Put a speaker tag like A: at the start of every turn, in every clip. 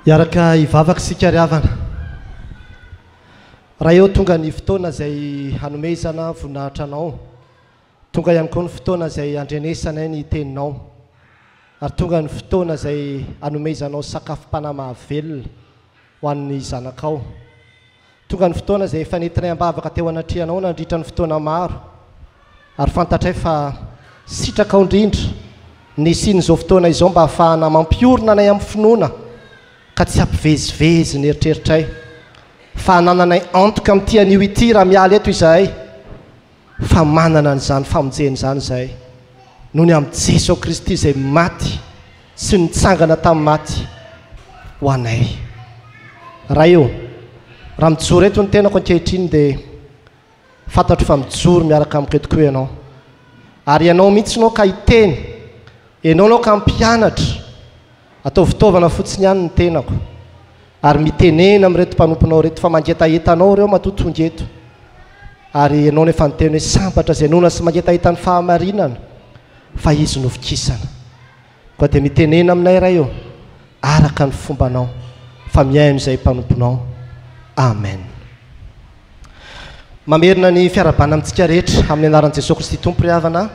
A: Hiaraka hivavaka isika ry havana. Raha eo tonga ny fotoana izay hanomezana voninahitra Anao, tonga ihany koa ny fotoana izay handrenesanay ny Teninao, ary tonga ny fotoana izay hanomezanao sakafom-panahy mahavelona ho an'ny zanakao. Tonga ny fotoana izay efa nentinay am-bavaka teo anatrehanao nandritra ny fotoana maro, ary fantatray fa sitrakao indrindra ny hisian'izao fotoana izao mba hahafahana mampiorina anay amin'ny finoana ka tsy hampivezivezy ny eritreritray fa hanananay antoka amin'ity anio ity raha miala eto izahay. fa manana an'izany famonjena izany izay noho ny amin'i Jesoa Kristy izay maty sy nitsangana tamin'ny maty ho anay. Ray ô, raha mijoro eto ny tenako ankehitriny dia fantatro fa mijoro miaraka amiko eto koa Ianao. Ary Ianao mihitsy no ka hiteny, Ianao no ka hampianatra, Ataovy fitaovana fotsiny ihany ny tenako. Ary mitenena amin'ireto mpanomponao ireto fa mangetaheta anao ireo matoa tonga eto. Ary ianao no efa niteny hoe sambatra izay noana sy mangetaheta ny fahamarinana fa izy no vokisana. Koa dia mitenena aminay Ray ô, araka ny fombanao, fa mihaino izay mpanomponao. Amen. Mamerina ny fiarabana amintsika rehetra amin'ny anaran'i Jesoa Kristy Tompo ry havana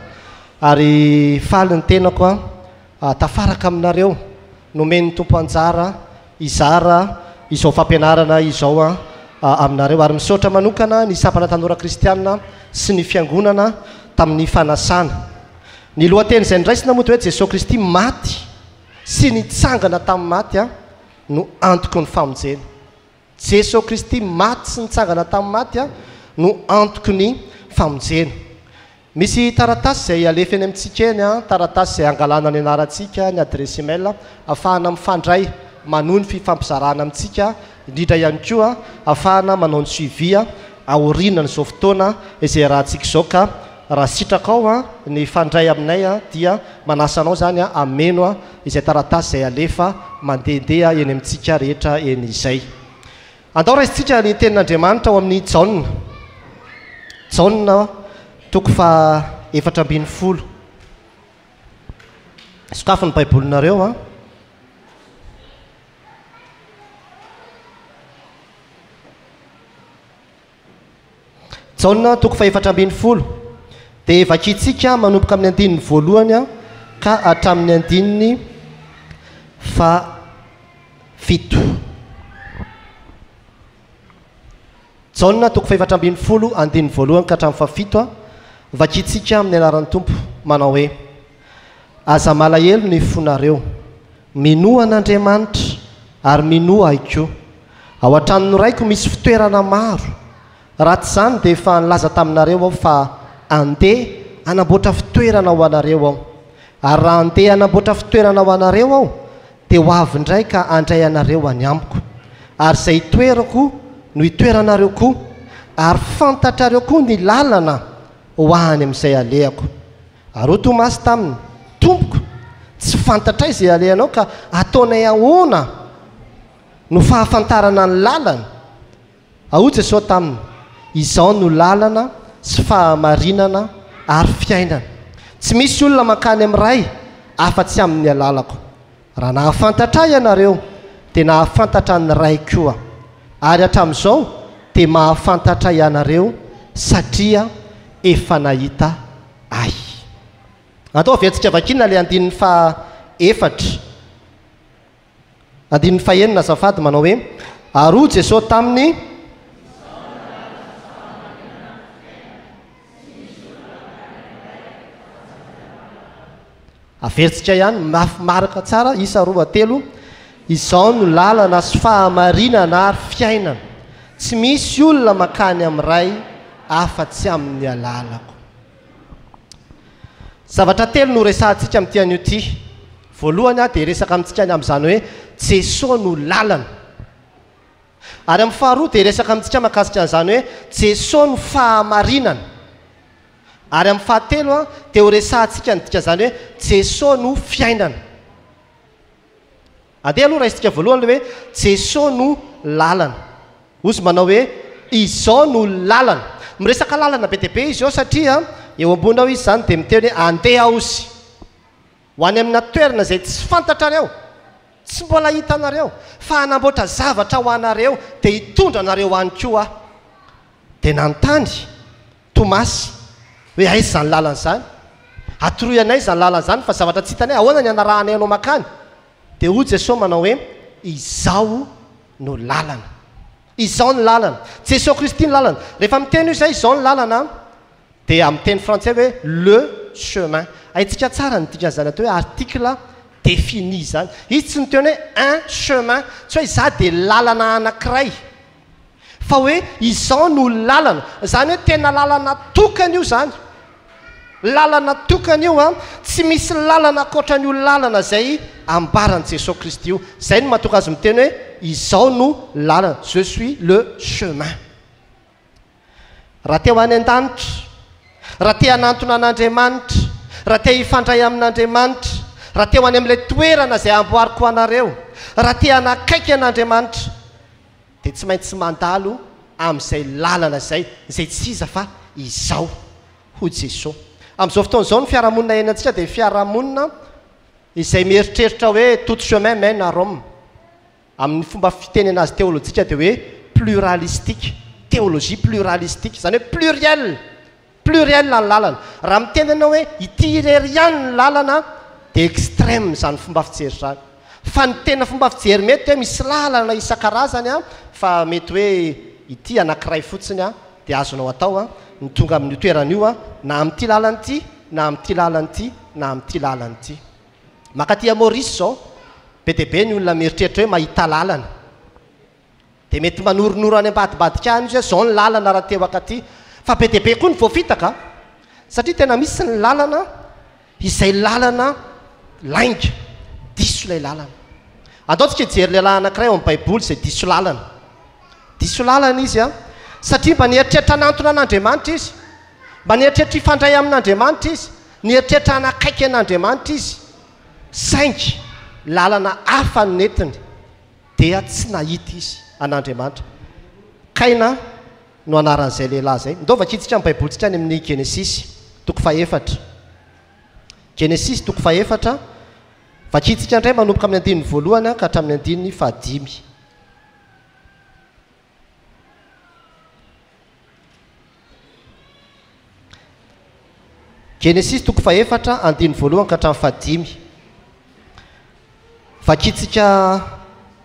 A: ary faly ny tenako A Tafaraka aminareo nomen'ny Tompo anjara hizara izao fampianarana izao aminareo, ary misaotra manokana ny Sampana Tanora Kristianina sy ny Fiangonana tamin'ny fanasana. Ny lohateny izay noraisina moa dia hoe Jesoa Kristy maty sy nitsangana tamin'ny maty no antoky ny famonjena. Jeso Kristy maty sy nitsangana tamin'ny maty no antoky ny famonjena. Misy taratasy izay alefa eny amintsika eny, taratasy izay angalana ny anarantsika, ny adiresy email, ahafahana mifandray manohy ny fifampizarana amintsika, indrindra ihany koa ahafahana manao ny suivi aorianan'izao fotoana izay iarahantsika izao ka raha sitrakao ny hifandray aminay dia manasa anao izany hameno izay taratasy izay alefa mandehandeha eny amintsika rehetra eny izay. Andao raisintsika ny tenin'Andriamanitra ao amin'ny Jaona. Jaona, toko faha efatra ambin'ny folo. Sokafy ny Baibolinareo an. Jaona toko fahefatra ambin'ny folo dia vakintsika manomboka amin'ny andininy voalohany ka hatramin'ny andininy fahafito. Jaona toko fahefatra ambin'ny folo andininy voalohany ka hatramin'ny fahafito, vakintsika amin'ny anaran'ny Tompo manao hoe, Aza malahelo ny fonareo. Minoa an'Andriamanitra ary minoa ahy koa. Ao an-tranon'ny raiko misy fitoerana maro. Raha tsy izany dia efa nilaza taminareo aho fa handeha hanamboatra fitoerana ho anareo aho. Ary raha handeha hanamboatra fitoerana ho anareo aho dia ho avy indray ka handray anareo any amiko. Ary izay itoerako no itoeranareo koa, ary fantatrareo koa ny lalana ho any amin'izay alehako. Ary hoy Tomasy taminy, Tompoko, tsy fantatray izay alehanao ka ataonay ahoana no fahafantarana ny lalana? A Hoy Jesosy taminy, Izaho no lalana sy fahamarinana ary fiainana. Tsy misy olona mankany amin'ny Ray afa-tsy amin'ny alalako. Raha nahafantatra Ahy ianareo, dia nahafantatra ny Ray koa. Ary hatramin'izao dia mahafantatra ianareo, satria efa nahita Ahy. Andao haveantsika vakiana ilay andininy faha efatra, andininy faha enina azafady, manao hoe, Ary hoy Jesoa taminy, Averintsika ihany, mafy marika tsara, isa roa, telo, Izao no lalana sy fahamarinana ary fiainana, tsy misy olona mankany amin'ny Ray afa-tsy amin'ny alalako. Zavatra telo no horesahantsika amin'ity anio ity. Voalohany aho dia hiresaka amintsika ny amin'izany hoe Jesoa no lalana. Ary amin'ny faharoa dia hiresaka amintsika mahakasika an'izany hoe Jesoa no fahamarinana. Ary amin'ny fahatelo a, dia horesahantsika ny dikan'izany hoe Jesoa no fiainana. Andeha aloha raisintsika voalohany ilay hoe Jesoa no lalana. Ozy manao hoe izao no lalana. Miresaka lalana be dia be izy eo satria eo ambony ao izy izany dia miteny hoe andeha Ozy. Ho any amina toerana izay tsy fantatrareo, tsy mbola hitanareo, fa hanamboatra zavatra ho anareo, dia hitondra anareo any koa Aho. Dia nanontany Tomasy hoe, Aiza izany lalana izany? Atoroy anay izany lalana izany, fa zavatra tsy hitanay, ahoana ny hanarahanay Anao mankany? Dia hoy Jesosy manao hoe, Izaho no lalana, Izao ny lalana. Jesoa Kristy ny lalana. Rehefa miteny io izay, izao ny lalana, dia amin'ny teny frantsay hoe le chemin. Haintsika tsara ny dikan'izany atao hoe article défini izany. Izy tsy niteny hoe un chemin, tsy hoe izaho dia lalana anankiray, fa hoe izao no lalana. Izany hoe tena lalana tokana io izany. Lalana tokana io an! Tsy misy lalana ankoatran'io lalana izay ambaran'i Jesoa Kristy io. Izay no mahatonga Azy miteny hoe, Izaho no lalana, Je suis le chemin. Raha te ho any an-danitra, raha te hanantona an'Andriamanitra, raha te hifandray amin'Andriamanitra, raha te ho any amin'ilay toerana izay amboariko ho anareo, raha te hanakaiky an'Andriamanitra, dia tsy maintsy mandalo amin'izay lalana izay, izay tsy iza fa Izaho, hoy Jesoa. Amin'izao fotoana izao ny fiarahamonina iainantsika dia fiarahamonina izay mieritreritra hoe tout chemin mène à Rome. Amin'ny fomba fiteny anazy teolojika dia hoe pluralistique, théologie pluralistique, izany hoe pluriel, Pluriel ny lalana. Raha miteny ianao hoe ity irery ihany ny lalana dia extreme izany fomba fijery izany. Fa ny tena fomba fijery mety dia hoe misy lalana isan-karazany fa mety hoe ity anankiray fotsiny dia azonao atao ny tonga amin'io toerana io na amin'ity lalana ity na amin'ity lalana ity na amin'ity lalana ity. Mankaty à Maurice izao, be dia be ny olona mieritreritra hoe mahita lalana. Dia mety manoronoro any ambadibadika any izy hoe izao ny lalana raha te ho akaty. Fa be dia be koa ny voafitaka an! Satria tena misy ny lalana izay lalana lainga, diso ilay lalana. Andao tsika hijery lehilahy anankiray ao amin'ny Baiboly izay diso lalana. Diso lalana izy an! Satria mba nieritreritra hanantona an'Andriamanitra izy. Mba nieritreritra hifandray amin'Andriamanitra izy. Nieritreritra hanakaiky an'Andriamanitra izy. Saingy lalana hafa no nentiny. dia tsy nahita izy an'Andriamanitra. Kaina no anaran'izay lehilahy izay. Ndao vakintsika ny Baibolintsika any amin'ny Genesisy, toko fahefatra. Genesisy, toko fahefatra. Vakintsika indray manomboka amin'ny andininy voalohany ka hatramin'ny andininy fahadimy. Genesisy toko fahefatra, andininy voalohany ka hatramin'ny fahadimy. Vakintsika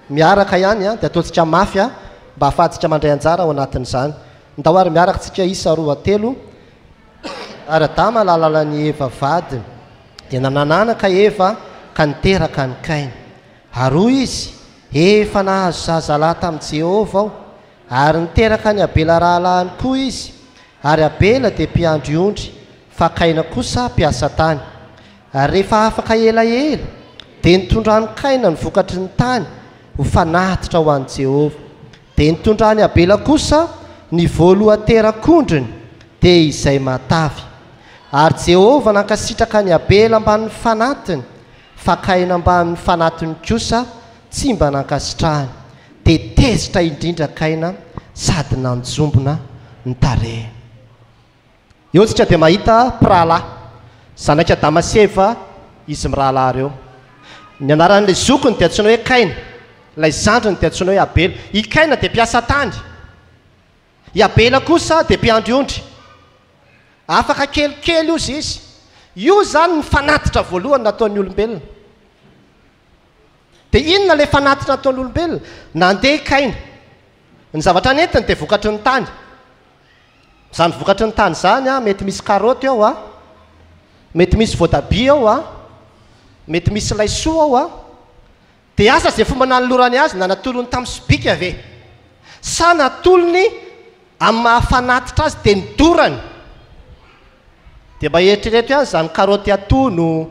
A: miaraka ihany dia ataontsika mafy mba hahafahantsika mandray anjara ao anatin'izany. Ndao ary miaraka tsika isa roa telo ary Adama lalanan'i Eva vadiny dia nanananaka Eva ka niteraka an'i Kaina. Ary hoy izy, Efa nahazo zazalahy tamin'i Jehovah aho. Ary niteraka an'i Abela rahalahiny koa izy, ary Abela dia mpiandry ondry, fa Kaina kosa mpiasa tany. Ary rehefa afaka elaela, dia nitondran'i Kaina ny vokatry ny tany ho fanatitra ho an'i Jehovah. Dia nitondran'i Abela kosa ny voalohan-terak'ondriny, dia izay matavy. Ary Jehovah nankasitraka an'i Abela ambanin'ny fanatiny. Fakaina ambany fanatiny kosa tsy mba nankasitrahany dia tezitra indrindra kaina sady nanjombona ny tarehiny. Eo isika dia mahita mpirahalahy, zanak' Adama sy Eva izy mirahalahy ireo. Ny anaran' ilay zokiny dia antsoina hoe Kaina, ilay zandriny dia antsoina hoe Abela. I Kaina dia mpiasa tany. I Abela kosa dia mpiandry ondry. Afaka kelikely ozy izy. Io izany ny fanatitra voalohany nataon'ny olombelona. Dia inona ilay fanatitra nataon'ny olombelona? Nandeha i Kaina. Ny zavatra nentiny dia vokatry ny tany. Izany vokatry ny tany izany, mety misy karaoty ao, a, mety misy voatabia ao, a, mety misy laisoa ao, a, Dia asa izay fomba nanolorany azy na natolony tamin'ny sobika ve? Sa natolony amin'ny maha-fanatitra azy teny dorany? Dia mba eritrereto ihany izany karaoty atono,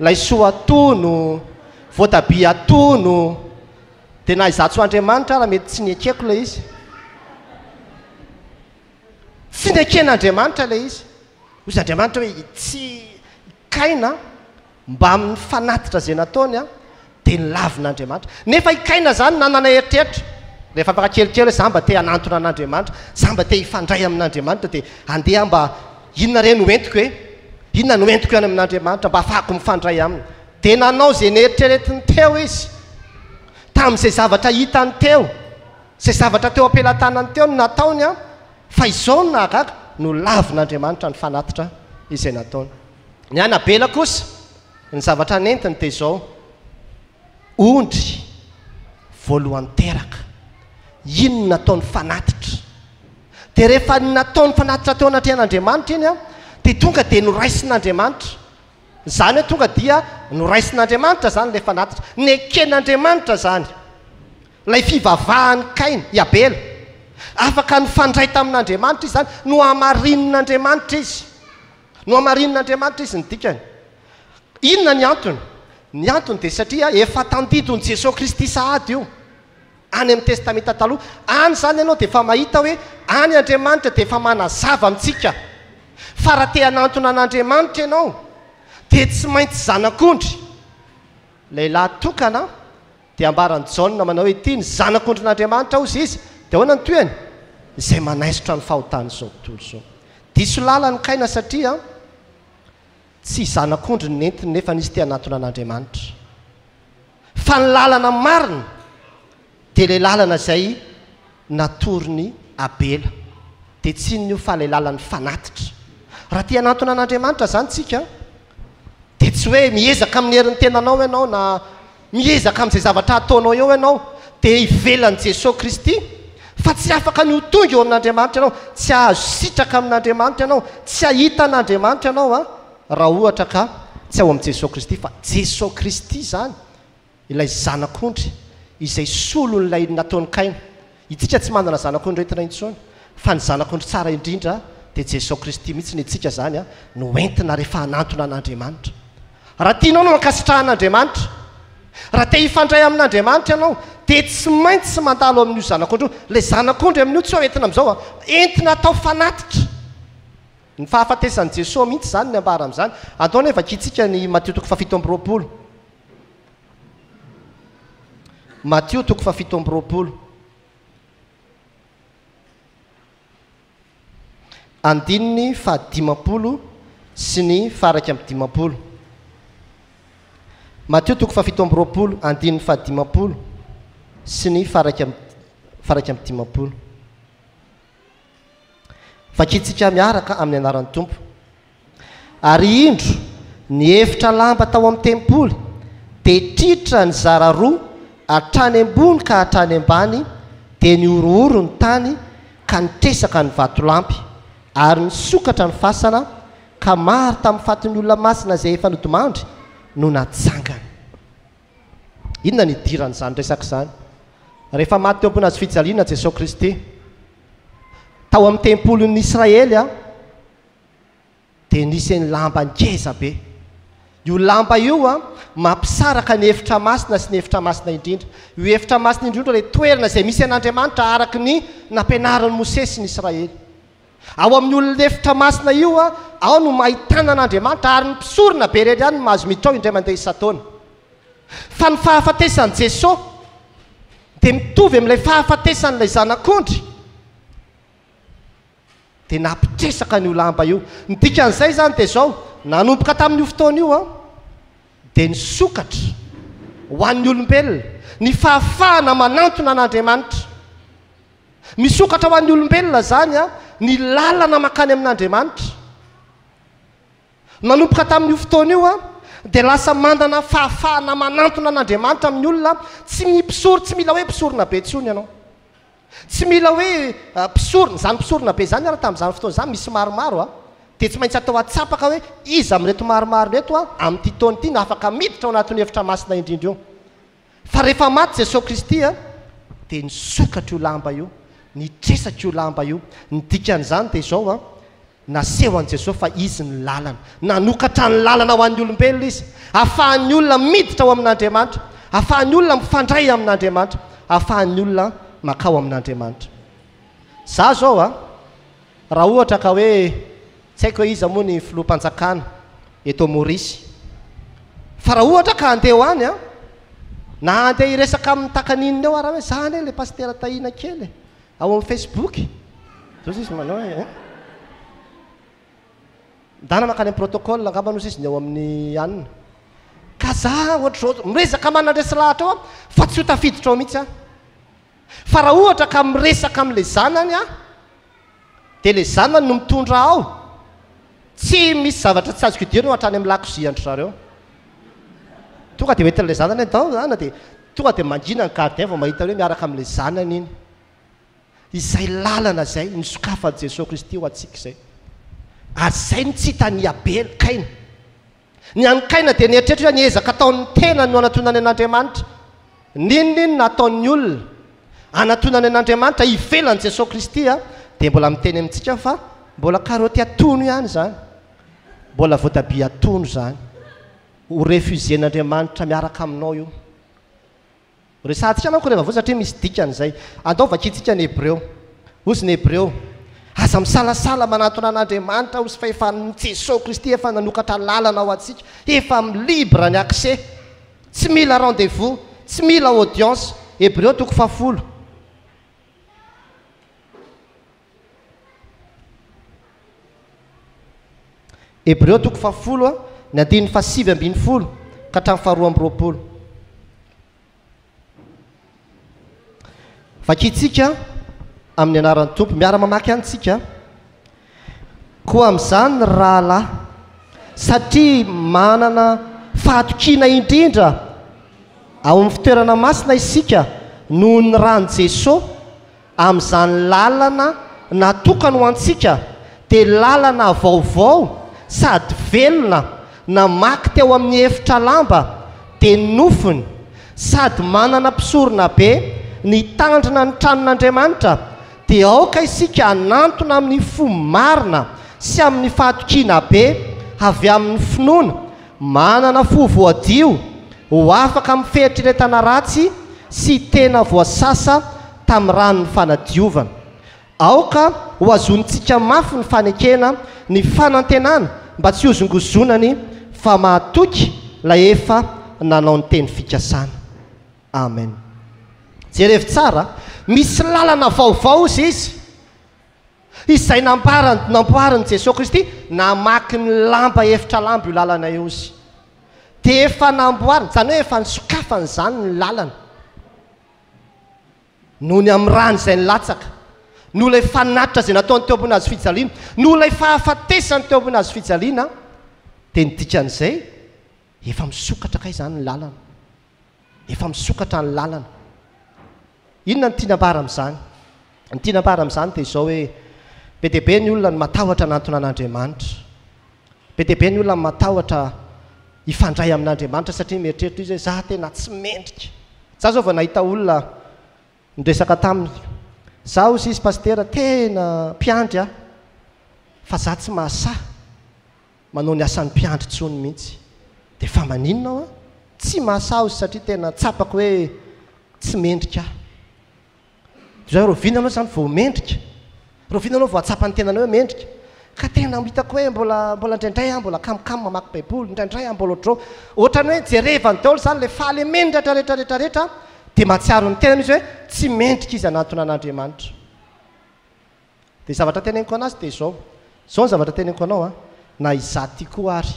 A: laisoa atono, voatabia atono, dia na izaho tsy ho Andriamanitra ara mety tsy nekeko ilay izy. Tsy neken'Andriamanitra ilay izy. Hoy Andriamanitra hoe, Tsy Kaina mbamin'ny fanatitra izay nataony dia nilavina Andriamanitra. Nefa i Kaina izany nanana eritreritra, rehefa mba kelikely hoe za mba te hanantona an'Andriamanitra, za mba te hifandray amin'Andriamanitra dia andeha aho mba inona re no entiko e? Inona no entiko any amin'Andriamanitra mba hahafahako mifandray aminy? Dia nanao izay neritreretiny teo izy. Tamin'izay zavatra hitany teo, izay zavatra teo am-pelatanany teo no nataony. Fa izao no nahagaga, nolavin'Andriamanitra ny fanatitra izay nataony. Ny an'i Abela kosa, ny zavatra nentiny dia izao, ondry voalohany teraka. Iny no nataony fanatitra. Dia rehefa nataony fanatitra teo anatrehan'Andriamanitra iny, dia tonga dia noraisin'Andriamanitra. Izany hoe tonga dia noraisin'Andriamanitra izany ilay fanatitra. Neken'Andriamanitra izany. Ilay fivavahan'i Kaina, i Abela, afaka nifandray tamin'Andriamanitra izy izany, nohamarinin'Andriamanitra izy. Nohamarinin'Andriamanitra izy ny dikany. Inona ny antony? Ny antony dia satria efa tandidon'i Jesoa Kristy sahady io, any amin'ny Testamenta Taloha. Any izany ianao dia efa mahita hoe any Andriamanitra dia efa manazava amintsika fa raha te hanantona an'Andriamanitra ianao dia tsy maintsy zanak'ondry, lehilahy tokana, Dia ambaran'i Jaona manao hoe, Ity ny Zanak'ondrin'Andriamanitra hozy izy. Dia ahoana ny tohiny? Izay manaisotra ny fahotan'izao tontolo izao. Diso lalana i Kaina satria tsy zanak'ondry ny nentiny nefa nisy te hanatona an'Andriamanitra. Fa ny lalana marina dia ilay lalana izay natorin'i Abela. Dia tsy inona io fa ilay lalan'ny fanatitra. Raha te hanatona an'Andriamanitra izany tsika dia tsy hoe miezaka amin'ny herin'ny tenanao ianao na Miezaka amin'izay zavatra ataonao eo ianao, dia ivelan'i Jesoa Kristy, fa tsy afaka ny ho tonga eo amin'Andriamanitra ianao, tsy hahazo sitraka amin'Andriamanitra ianao, tsy hahita an'Andriamanitra ianao an, raha ohatra ka tsy ao amin'i Jesoa Kristy, fa Jesoa Kristy izany ilay Zanak'ondry izay solon'ilay nataon'i Kaina. Itsika tsy manana zanak'ondrintina intsony fa ny zanak'ondry tsara indrindra dia Jeso Kristy mihitsy ny itsika zany no entina rehefa hanantona an'Andriamanitra. Raha tianao no ankasitrahan'Andriamanitra, raha te hifandray amin'Andriamanitra ianao dia tsy maintsy mandalo amin'io zanak'ondry io. Ilay zanak'ondry amin'io tsy hoe entina amin'izao an, entina atao fanatitra. Ny fahafatesan'i Jeso mihitsy izany ny ambara amin'izany. Andao anie vakintsika ny Matio toko fahafito amby roapolo. Matio toko fahafito amby roapolo andininy fahadimampolo sy ny fahairaika amby dimampolo Matio toko fahafito amby roapolo andininy fahadimampolo sy ny fahairaika amby fahairaika amby dimampolo Vakintsika miaraka amin'ny anaran'ny Tompo. Ary indro, ny efitra lamba tao amin'ny tempoly dia tritra nizara roa hatrany ambony ka hatrany ambany, dia nihorohoro ny tany ka nitresaka ny vatolampy, ary nisokatra ny fasana, ka maro tamin'ny fatin'ny olona masina izay efa nodimandry no natsangana. Inona no idiran'izany resaka izany? Rehefa maty teo ambony hazofijaliana Jesoa Kristy, tao amin'ny tempolin'ny Israely, dia nisy ny lamba ngeza be. Io lamba io an, mampisaraka ny efitra masina sy ny efitra masina indrindra. Io efitra masina indrindra ilay toerana izay misy an'Andriamanitra araka ny nampianarin'i Mosesy ny Israely. Ao amin'ny olon'ny efitra masina io an, ao no mahitana an'Andriamanitra ary ny mpisorona be irery ihany no mahazo miditra ao indray mandeha isan-taona. Fa ny fahafatesan'i Jesoa dia mitovy amin'ilay fahafatesan'ilay zanak'ondry. dia nampitresaka an'io lamba io. Ny dikan'izay izany dia izao, nanomboka tamin'io fotoana io an, dia nisokatra ho an'ny olombelona ny fahafahana manantona an'Andriamanitra. Misokatra ho an'ny olombelona izany an, ny lalana mankany amin'Andriamanitra. Nanomboka tamin'io fotoana io an, dia lasa manana fahafahana manantona an'Andriamanitra amin'ny olona, tsy ny mpisory, tsy mila hoe mpisorona be intsony ianao. Tsy mila hoe mpisorona, izany mpisorona be izany ary tamin'izany fotoana izany misy maromaro a! dia tsy maintsy atao atsapaka hoe iza amin'ireto maromaro ireto a, amin'ity taona ity no afaka miditra ao anatin'io efitra masina indrindra io. Fa rehefa maty Jesoa Kristy a, dia nisokatra io lamba io, nitresaka io lamba io, ny dikan'izany dia izao a, Nasehon'i Jesoa fa Izy no lalana. Nanokatra ny lalana ho an'ny olombelona Izy, ahafahan'ny olona miditra ao amin'Andriamanitra, ahafahan'ny olona mifandray amin'Andriamanitra, ahafahan'ny olona mankao amin'Andriamanitra. Izaho izao a, raha ohatra ka hoe, tsy haiko hoe iza moa ny Filoham-panjakana eto Maurice, fa raha ohatra ka handeha ho any aho, na handeha hiresaka amin'ny takan'inona eo ary aho hoe, izaho anie ilay Pasitera Tahina kely e, Ao amin'ny Facebook, zao sisa manao e. Ndana mankany amin'ny protocole angamba no sisa ny ao amin'ny an. Ka za ohatr'izao, miresaka manandresy lahatra ao aho fa tsy ho tafiditra ao mihitsy aho. Fa raha ohatra ka miresaka amin'ilay zanany aho, dia ilay zanany no mitondra aho. Tsy misy zavatra tsy azoko idirina hatrany amin'ny lakozian-dry zareo. Tonga dia hoentin'ilay zanany ny dent an, dia tonga dia mangina ny gardien vao mahita hoe miaraka amin'ilay zanany iny. Izay lalana izay nosokafan'i Jesoa Kristy ho antsika izay. Ary izay no tsy hitan'i Abela, Kaina. Ny an'i Kaina dia nieritreritra hoe ny ezaka ataon'ny tenany no anatonany an'Andriamanitra. N'inon'inona ataon'ny olona anatonany an'Andriamanitra ivelan'i Jesoa Kristy dia mbola miteny amintsika fa mbola karaoty atono ihany izany, mbola voatabia atono izany. Ho refuser-n'Andriamanitra miaraka aminao io. Resahantsika manko reva vao satria misy dikany izay. Andao vakintsika ny Hebreo. Hozy ny Hebreo, Aza misalasala manantona an'Andriamanitra hozy fa efa Jesoa Kristy efa nanokatra lalana ho antsika. Efa mi libre ny accès. Tsy mila rendez vous. Tsy mila audience. Hebreo toko fahafolo. Hebreo toko fahafolo, ny andininy fahasivy ambin'ny folo ka hatramin'ny faharoa amby roapolo. Vakintsika amin'ny anaran'ny Tompo. Miara-mamaky any isika. Koa amin'izany ny rahalahy, satria manana fahatokiana indrindra ao amin'ny fitoerana masina isika noho ny ran'i Jesoa, Amin'izany lalana natokany ho antsika dia lalana vaovao sady velona namaky teo amin'ny efitra lamba dia ny nofony sady manana mpisorona be nitandrina ny tranon'Andriamanitra dia aoka isika hanantona amin'ny fo marina sy amin'ny fahatokiana be avy amin'ny finoana Manana fo voadio ho afaka amin'ny fieritreretana ratsy sy tena voasasa tamin'ny ranon'ny fanadiovana. Aoka hohazonintsika mafy ny fanekena ny fanantenana mba tsy hozongozonany fa mahatoky ilay efa nanao ny teny fikasana. Amen. Jerevo tsara, misy lalana vaovao hoy izy. Izay namparany, namboarin'i Jesoa Kristy, namaky ny lamba efitra lamba io lalana io Izy. Dia efa namboariny, izany hoe efa nisokafany izany ny lalana. Noho ny amin'ny rany izay nilatsaka, noho ilay fanatitra izay nataony teo ambony hazofijaliana, noho ilay fahafatesany teo ambony hazofijaliana, dia ny dikan'izay, efa misokatra kay izany ny lalana. Efa misokatra ny lalana. Inona no tiana ambara amin'izany? Ny tiana ambara amin'izany dia izao hoe, be dia be ny olona no matahotra hanantona an'Andriamanitra. Be dia be ny olona no matahotra hifandray amin'Andriamanitra satria mieritreritra izy hoe, izaho tena tsy mendrika. Izaho izao vao nahita olona niresaka taminy, izaho hozy izy pasitera tena mpiandry aho fa izaho tsy mahasahy. manao ny asan'ny mpiandry tsony mintsy de fa maninona aho an tsy mahasaozy satria tena tsapako hoe tsy mendrika aho zao rahoviana anao zany vao mendrika rahoviana anao vao ahatsapa ny tenanao hoe mendrika ka tena hitako hoe mbola mbola indraindray aho mbola kamokamo mamaky baiboly indraindray aho mbola ohatrao ohatrany hoe jerevany daholo zany le fahalemendratra rehetra rehetra rehetra de mahatsiaro ny tenany izy hoe tsy mendrika izy anatona an'andriamanitra Dia zavatra teneniko anazy dia izao, izao ny zavatra teneniko anao an, na izaho ity koa ary,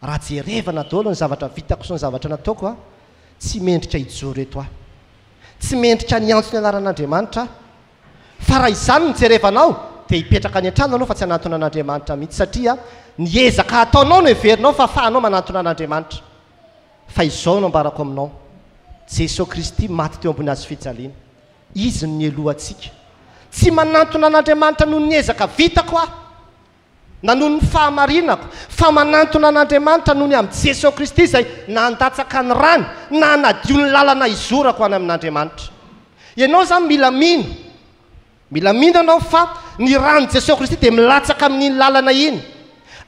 A: raha jerevana daholo ny zavatra vitako sy ny zavatra nataoko an, tsy mendrika hijoro eto aho. Tsy mendrika ny hiantso ny anaran'Andriamanitra aho. Fa raha izany no jerevana aho dia hipetraka any an-trano aloha fa tsy hanantona an'Andriamanitra mihitsy satria ny ezaka ataonao no heverinao fa afahanao manantona an'Andriamanitra. Fa izao no ambarako aminao, Jesoa Kristy maty teo ambony hazofijaliana. Izy no nialoha antsika. Tsy manantona an'Andriamanitra noho ny ezaka vitako aho, na noho ny fahamarinako, fa manantona an'Andriamanitra noho ny amin'i Jesoa Kristy izay nandatsaka ny rany na hanadio ny lalana hizorako any amin'Andriamanitra. Ianao izany mila mino, mila mino ianao fa ny ran'i Jesoa Kristy dia milatsaka amin'iny lalana iny,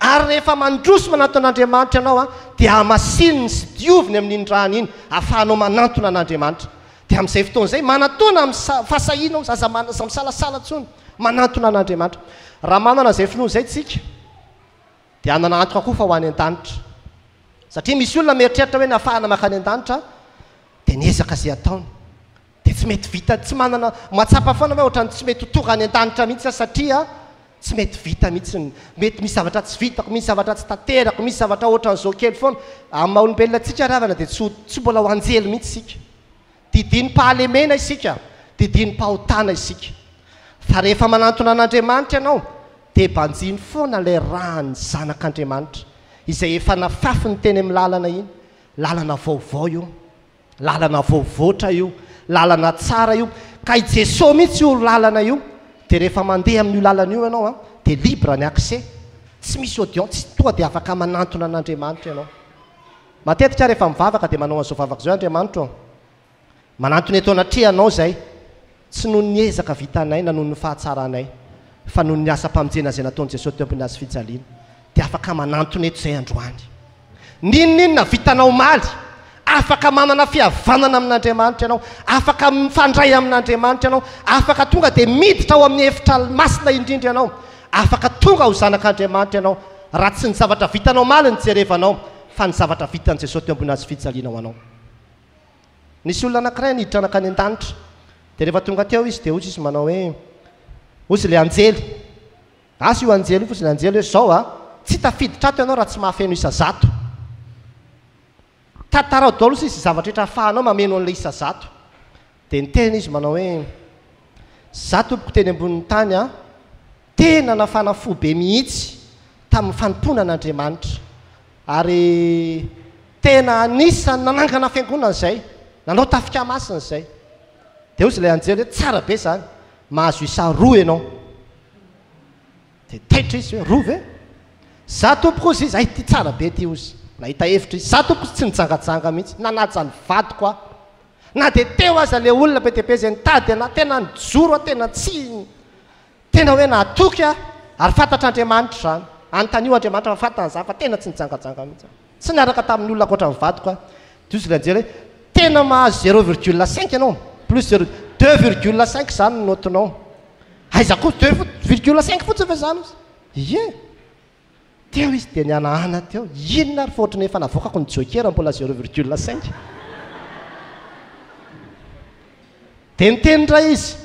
A: ary rehefa mandroso manantona an'Andriamanitra ianao dia hamasininy sy dioviny amin'iny rany iny ahafahanao manantona an'Andriamanitra. Dia amin'izay fotoana izay, manatòna amin'ny fahasahiana aho, aza misalasala intsony, manantona an'Andriamanitra. Raha manana izay finoana izay isika, dia hanana antoka koa fa ho any an-danitra. Satria misy olona mieritreritra hoe ny hahafahana maka any an-danitra, dia ny ezaka izay ataony. Dia tsy mety vita, tsy manana, mahatsapa foana hoe ohatran'ny tsy mety ho tonga any an-danitra mihitsy aho satria, Tsy mety vita mihitsy ny, mety misy zavatra tsy vitako, misy zavatra tsy tanterako, misy zavatra ohatran'izao kely foana. Amin'ny maha olombelona antsika ravana dia tsy tsy mbola ho anjely mihitsy isika. Didinim-pahalemena isika, didinim-pahotana isika. Fa rehefa manantona an'Andriamanitra ianao dia banjino foana ilay ran'ny zanak'Andriamanitra izay efa nafafiny teny amin'ny lalana iny, lalana vaovao io. Lalana voavoatra io, lalana tsara io, ka i Jesoa mihitsy io lalana io, dia rehefa mandeha amin'io lalana io ianao an, dia libre ny accès, tsy misy audience, toa dia afaka manantona an'Andriamanitra ianao. Matetika aho rehefa mivavaka dia manao an'izao vavaka izao, Andriamanitro an, manantona eto anatrehanao izahay, tsy noho ny ezaka vitanay na noho ny fahatsaranay, fa noho ny asam-pamonjena izay nataon'i Jesoa teo am-pin'ny hazofijaliana. dia afaka manantona eto izay androany. N'inon'inona vitanao omaly, afaka manana fihavanana amin'Andriamanitra ianao, afaka mifandray amin'Andriamanitra ianao, afaka tonga dia miditra ao amin'ny efitra masina indrindra ianao, afaka tonga ho zanak'Andriamanitra ianao, raha tsy ny zavatra vitanao omaly no jerevanao, fa ny zavatra vitan'i Jesoa teo ambony hazofijaliana ho anao. Nisy olona anankiray niditra nankany an-danitra, dia rehefa tonga teo izy, dia hoy izy manao hoe, hoy ilay anjely, Asa io anjely io fotsiny, anjely hoe zao a, tsy tafiditra ato ianao raha tsy mahafeno isa zato. Tantarao daholo sisa izay zavatra rehetra ahafahanao mameno an'ilay isa zato. Dia niteny izy manao hoe, Izaho tompoko teny ambonin'ny tany a, tena nafana fo be mihitsy tamin'ny fanompoana an'Andriamanitra. Ary tena anisan'ny nanangana fiangonana izay, nanao tafika masina izay. Dia hoy ilay anjely hoe, Tsara be izany, mahazo isa roa ianao. Dia taitra izy hoe, roa ve? Za tompoko hozy izy, hay ity tsara be ity hozy. Nahita hevitra izy. Za tompoko tsy nijangajanga mihitsy, nanaja ny vadiko aho. Na dia teo aza ilay olona be dia be izay nitady an'ahy, tena nijoro aho, tena tsy, tena hoe nahatoky aho, ary fantatr'Andriamanitra izany. Anontanio Andriamanitra fa fantany izany fa tena tsy nijangajanga mihitsy aho. Tsy niaraka tamin'olona ankoatra ny vadiko aho. Diso ilay nijery hoe tena mahazo zéro virgule cinq ianao, plus zéro, deux virgule cinq izany ny naotinao. Aiza koa, deux fotsiny, virgule cinq fotsiny ve izany ozy? Ie! Teo izy dia nihanahana teo, inona ary fa ohatran'ny efa navoakako ny jokera mbola zéro virgule cinq. Dia niteny indray izy,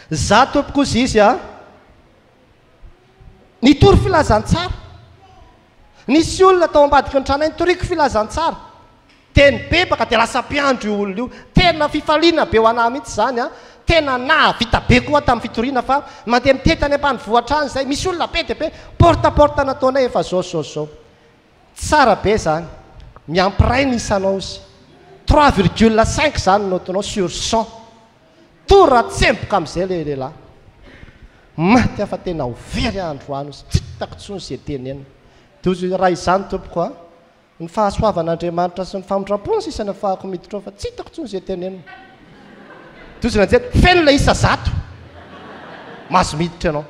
A: za tompoko ozy izy a! Nitory filazantsara. Nisy olona tao ambadiky ny tranainy nitoriako filazantsara dia nibebaka dia lasa mpiandry io olona io. Tena fifaliana be ho anah mihitsy izany an! Tena nahavita be koa aho tamin'ny fitoriana fa mandeha mitety any ambanivohitra any izay, misy olona be dia be, porte à porte nataonay efa izao sy izao sy izao. Tsara be izany! Miampiray ny isanao izy. Trois virgule cinq izany ny note-nao sur cent. Tora tsemboka amizay le lehilahy maty afa tena ho very andro any ozy tsy hitako tsony ze teneniny de ozy raha izany tompoko a ny fahasoavan Andriamanitra sy ny famindrampony sisa no afahako miditra ao fa tsy hitako tsony ze teneniny de ozy nanjety feno le isa zato mahazo miditra ianao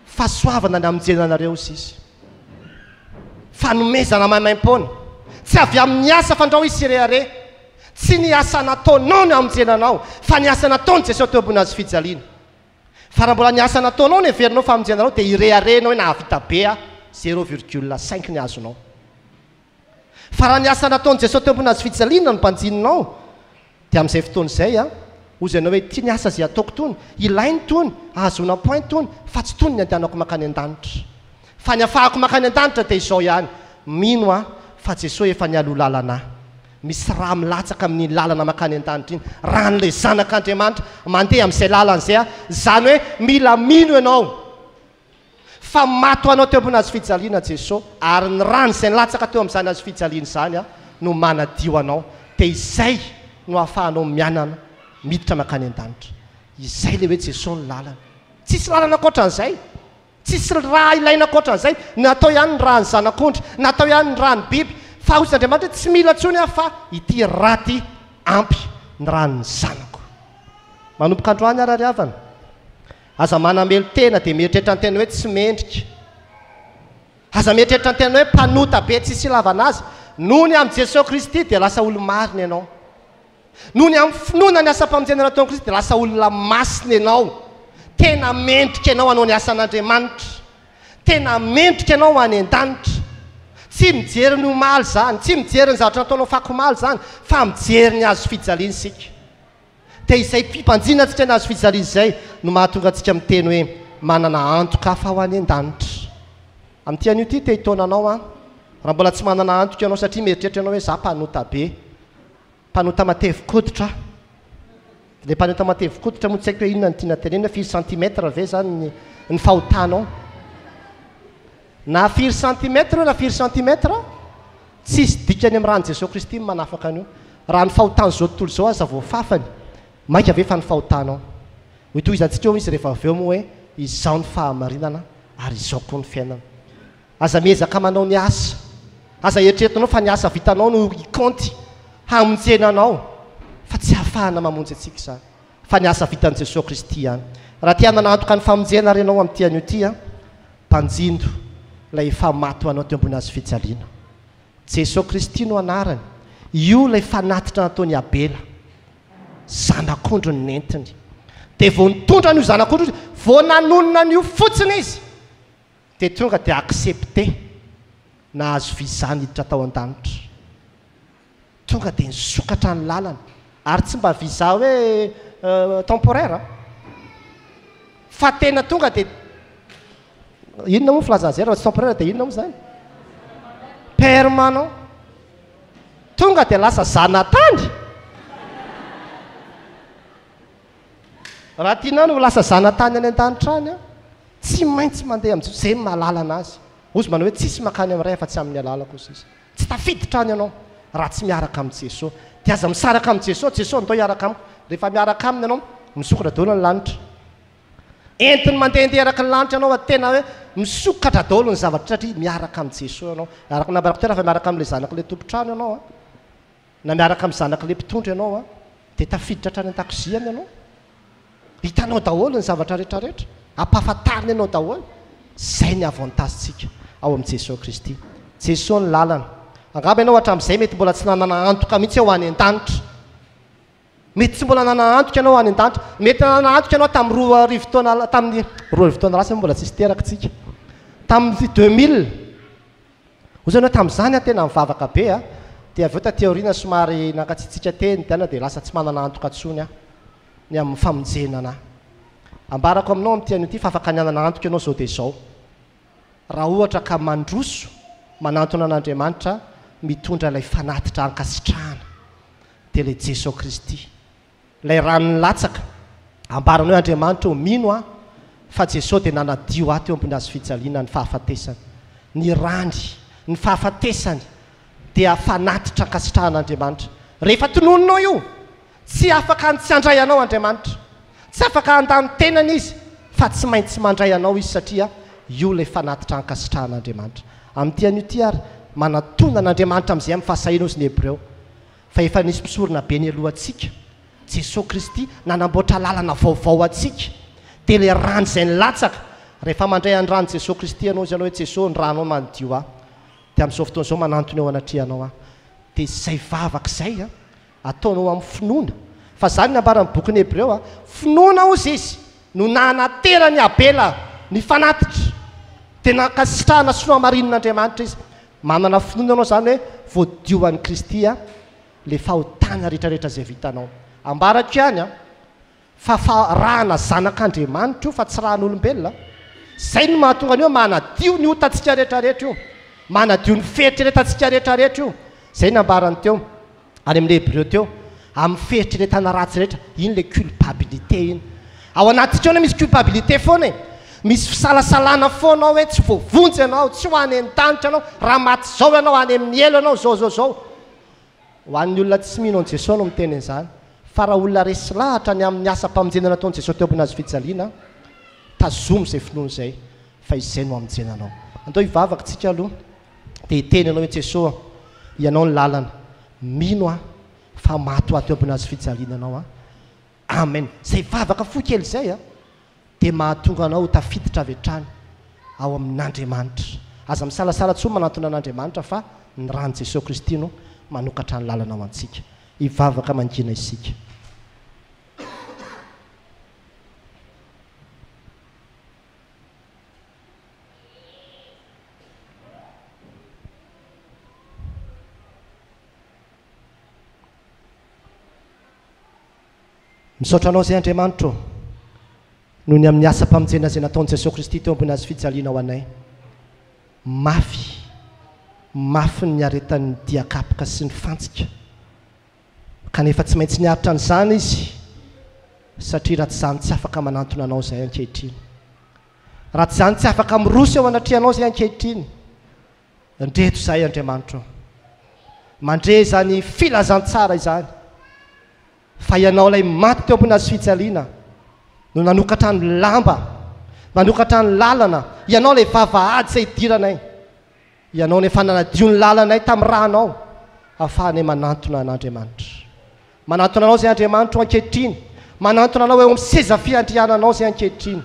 A: Fahasoavana ny hamonjena anareo, sisa. Fanomezana maimaim-poana. Tsy avy amin'ny asa fandrao izy tsirehareha. Tsy ny asa nataonao no hamonjena anao, fa ny asa nataon'i Jesoa teo ambony hazo fijaliana. Fa raha mbola ny asa nataonao no heverinao fa hamonjena anao, dia irehareha ianao hoe nahavita be aho, zéro virgule cinq ny azonao. Fa raha ny asa nataon'i Jesoa teo ambonina hazo fijaliana no banjininao, dia amin'izay fotoana izay, hoy izy aminao hoe, ity ny asa izay ataoko itony, ilainy itony, ahazoana am-point itony, fa tsy itony ny andehanako mankany an-danitra. Fa ny hafahako mankany an-danitra dia izao ihany, mino aho fa Jesoa efa nialoha lalana ahy. Misy rà milatsaka amin'iny lalana mankany an-danitra iny, ràn'ilay Zanak'Andriamanitra, mandeha amin'izay lalana izay aho. Izany hoe mila mino ianao. Fa maty ho anao teo ambony hazo fijaliana Jeso, ary ny rany izay nilatsaka teo amin'izany hazo fijaliana izany Aho no manadio anao, dia izay no ahafahanao mianana miditra mankany an-danitra. Izay ilay hoe Jeso ny lalana. Tsisy lalana ankoatran'izay. Tsisy ra ilaina ankoatran'izay. Natao ihany ny ran'ny zanak'ondry, natao ihany ny ran'ny biby, fa hoy Andriamanitra hoe tsy mila intsony Aho fa ity ra ity ampy, ny ran'ny zanako. Manomboka androany ary ary havana, Aza manamelo-tena dia mieritreritra ny tena hoe tsy mendrika. Aza mieritreritra ny tena hoe mpanota be tsisy ilavana azy. Noho ny amin'i Jesoa Kristy dia lasa olo-marina ianao. Noho ny amin'ny finoana ny asam-pamonjena nataon'i Kristy dia lasa olona masina ianao. Tena mendrika ianao hanao ny asan'Andriamanitra. Tena mendrika ianao ho any an-danitra. Tsy mijery ny omaly izany, tsy mijery ny zavatra nataonao fako omaly izany, fa mijery ny hazo fijaliana isika. Dia izay fibanjina antsika ny hazo fijaliana izay no mahatonga antsika miteny hoe manana antoka hafa ho any an-danitra. Amin'ity anio ity te hitaona anao aho, raha mbola tsy manana antoka ianao satria mieritreritra ianao hoe izaho mpanota be, mpanota matevi-koditra aho. Ilay mpanota matevi-koditra moa tsy haiko hoe inona no tiana tenenina, firy centimètre ve izany ny fahotanao? Na firy centimètre io na firy centimètre, tsisy dikany amin'ny ran'i Jesoa Kristy ny manafaka an'io. Raha ny fahotan'izao tontolo izao aza vao fafany, mainka ve fa ny fahotanao? Hotohizantsika eo izy rehefa avy eo moa hoe izao ny fahamarinana ary izao koa ny fiainana. Aza miezaka manao ny asa. Aza eritreretinao fa ny asa vitanao no hikaonty hamonjena anao fa tsy hahafahana mamonjy antsika izany fa ny asa vitan'i Jesoa Kristy ihany. Raha te hanana antoka ny famonjena ary ianao amin'ity anio ity, Mpanjinjo, Ilay efa maty ho anao teo ambony hazo fijaliana. Jesoa Kristy no anarany. Io ilay fanatitra nataon'i Abela. Zanak'ondry no nentiny. Dia vao nitondra an'io zanak'ondry io, vao nanonona an'io fotsiny izy, dia tonga dia accepté, nahazo visa niditra tao an-danitra. Tonga dia nisokatra ny lalana. Ary tsy mba visa hoe temporaire an! Fa tena tonga dia, inona moa ny filazana izay raha tsy temporaire dia inona moa izany? Permanent. Tonga dia lasa zanatany! Raha tianao ny ho lasa zanatany any an-danitra any an, tsy maintsy mandeha amin'i Jesoa, izay no mahalala an'Azy. Hozy manao hoe, tsisy mankany amin'ny Ray afa-tsy amin'ny alalako, hoy Jesoa. Tsy tafiditra any ianao raha tsy miaraka amin'i Jesosy. Dia aza misaraka amin'i Jesosy, Jesosy ndao hiaraka amiko. Rehefa miaraka Aminy ianao, misokatra daholo ny lanitra. Entiny mandehandeha eraky ny lanitra ianao fa tena hoe misokatra daholo ny zavatra satria miaraka amin'i Jesosy ianao. Araka ny nambarako teo raha efa miaraka amin'ilay Zanak'ilay Tompon-trano ianao an. Na miaraka amin'ny zanak'ilay mpitondra ianao an, dia tafiditra hatrany an-dakoziany ianao. Hitanao daholo ny zavatra rehetra rehetra. Ampahafantariny anao daholo. Izay ny avantagentsika ao amin'i Jesoa Kristy. Jesoa ny lalana. Angamba ianao hatramin'izay mety mbola tsy nanana antoka mihitsy hoe ho any an-danitra. Mety tsy mbola nanana antoka ianao any an-danitra. Mety nanana antoka ianao tamin'ny roa arivo taona, tamin'ny roa arivo taona lasa moa mbola tsisy teraka isika. Tamin'ny deux mille, hoy ianao tamin'izany aho tena nivavaka be a, dia avy eo taty aoriana somary nankatsiatsiaka teny dia any dia lasa tsy manana antoka intsony aho ny amin'ny famonjena anà. Ambarako aminao amin'ity anio ity fa afaka ny hanana antoka ianao izao dia izao. Raha ohatra ka mandroso, manantona an'Andriamanitra mitondra ilay fanatitra ankasitrahana, dia ilay Jesoa Kristy. Ilay rano nilatsaka, ambarany hoe Andriamanitra ô, mino aho fa Jesoa dia nanadio ahy teo ambony hazo fijaliana ny fahafatesany. Ny rany, ny fahafatesany dia fanatitra ankasitrahan'Andriamanitra. Rehefa tononinao io, Tsy afaka ny tsy handray anao Andriamanitra. Tsy afaka handà ny tenany Izy fa tsy maintsy mandray anao Izy satria io ilay fanatitra ankasitrahan'Andriamanitra. Amin'ity anio ity ary, manatona an'Andriamanitra amin'izay amin'ny fahasahiana hozy ny Hebreo. Fa efa nisy mpisorona be nialohantsika, Jesoa Kristy, nanamboatra lalana vaovao ho antsika. Dia ilay rano izay nilatsaka. Rehefa mandray an'ny ran'i Jesoa Kristy ianao, hozy ianao hoe, Jesoa, ny ranao manadio ahy. Dia amin'izao fotoana izao manantona eo anatrehanao aho. Dia izay vavaka izay an! ataonao amin'ny finoana. Fa izany no nambaran'ny bokin'ny Hebreo, Finoana hozy izy no nahanateran'i Abela ny fanatitra, dia nankasitrahana sy nohamarinin'Andriamanitra izy. Manana finoana ianao izany hoe voadio an'i Kristy ilay fahotana rehetrarehetra izay vitanao. Ambarako ihany an! Fa fa rahana zanak'Andriamanitra io fa tsy rahan'olombelona an! Izay no mahatonga an'io hoe manadio ny otantsika rehetra rehetra io, manadio ny fieritreretantsika rehetra rehetra io. Izay nambarany teo, any amin'ny Hebreo teo, amin'ny fieritreretana ratsy rehetra, iny ilay culpabilité iny. Ao anatintsika ao anie misy culpabilité foana e! Misy fisalasalana foana ao hoe tsy voavonjy ianao, tsy ho any an-danitra ianao, raha maty izao ianao, any amin'ny helo ianao, izao izao izao. Ho an'ny olona tsy mino an'i Jesoa no miteny an'izany, fa raha olona resy lahatra ny amin'ny asam-pamonjena nataon'i Jesoa teo ambony hazo fijaliana, tazomy izay finoany izay, fa izay no hamonjena anao. Andao hivavaka isika aloha, dia hiteny anao i Jesoa, Ianao ny lalana, mino aho fa maty ho ahy teo ambony hazo fijaliana Ianao an. Amen! Izay vavaka fohy kely izay a, dia mahatonga anao ho tafiditra avy hatrany ao amin'Andriamanitra. Aza misalasala intsony manantona an'Andriamanitra fa ny ran'i Jesoa Kristy no manokatra ny lalana ho antsika. Hivavaka mangina isika. Misaotra Anao izay Andriamanitra ô, noho ny amin'ny asam-pamonjena izay nataon'i Jesoa Kristy teo ambony hazofijaliana ho anay. Mafy, mafy ny niaretan'ny diakapoka sy ny fantsika, kanefa tsy maintsy niaritra an'izany Izy, satria raha tsy izany tsy afaka manantona Anao izay ankehitriny. Raha tsy izany tsy afaka miroso eo anatrehanao izay ankehitriny, Ndreto izahay Andriamanitro ô, mandre izany filazantsara izany fa Ianao ilay maty teo ambony hazofijaliana no nanokatra ny lamba, nanokatra ny lalana, Ianao ilay vavahady izay hidiranay, Ianao no efa nanadio ny lalanay tamin'ny rànao ahafahanay manantona an'Andriamanitra. Manantona anao izay Andriamanitro ankehitriny, manantona anao eo amin'ny seza fiandriananao izay ankehitriny.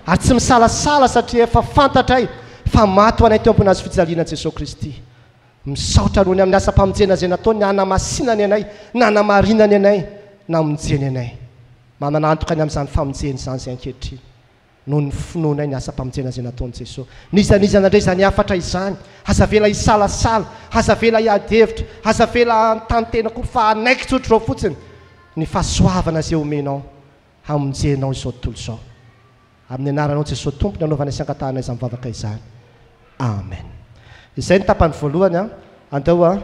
A: Ary tsy misalasala satria efa fantatray fa maty ho anay teo ambony hazo fijaliana Jesoa Kristy. Misaotra Anao ny amin'ny asam-pamonjena izay nataony hanamasinany anay, nanamarinany anay, namonjeny anay. Mananantoka ny amin'izany famonjena izany izay ankehitriny. noho ny finoanay ny asam-pamonjenan'izay nataon'i Jesosy. N'iza n'iza nandre izany hafatra izany, aza avela hisalasala, aza avela hiady hevitra, aza avela hanontany tena akory fa hanaiky tsotra izao fotsiny ny fahasoavana izay omenao hamonjenao izao tontolo izao. Amin'ny anaranao Jesosy Tompo ny anaovanay sy angatahanay izany vavaka izany. Amen. Izay ny tapany voalohany an. Andao an.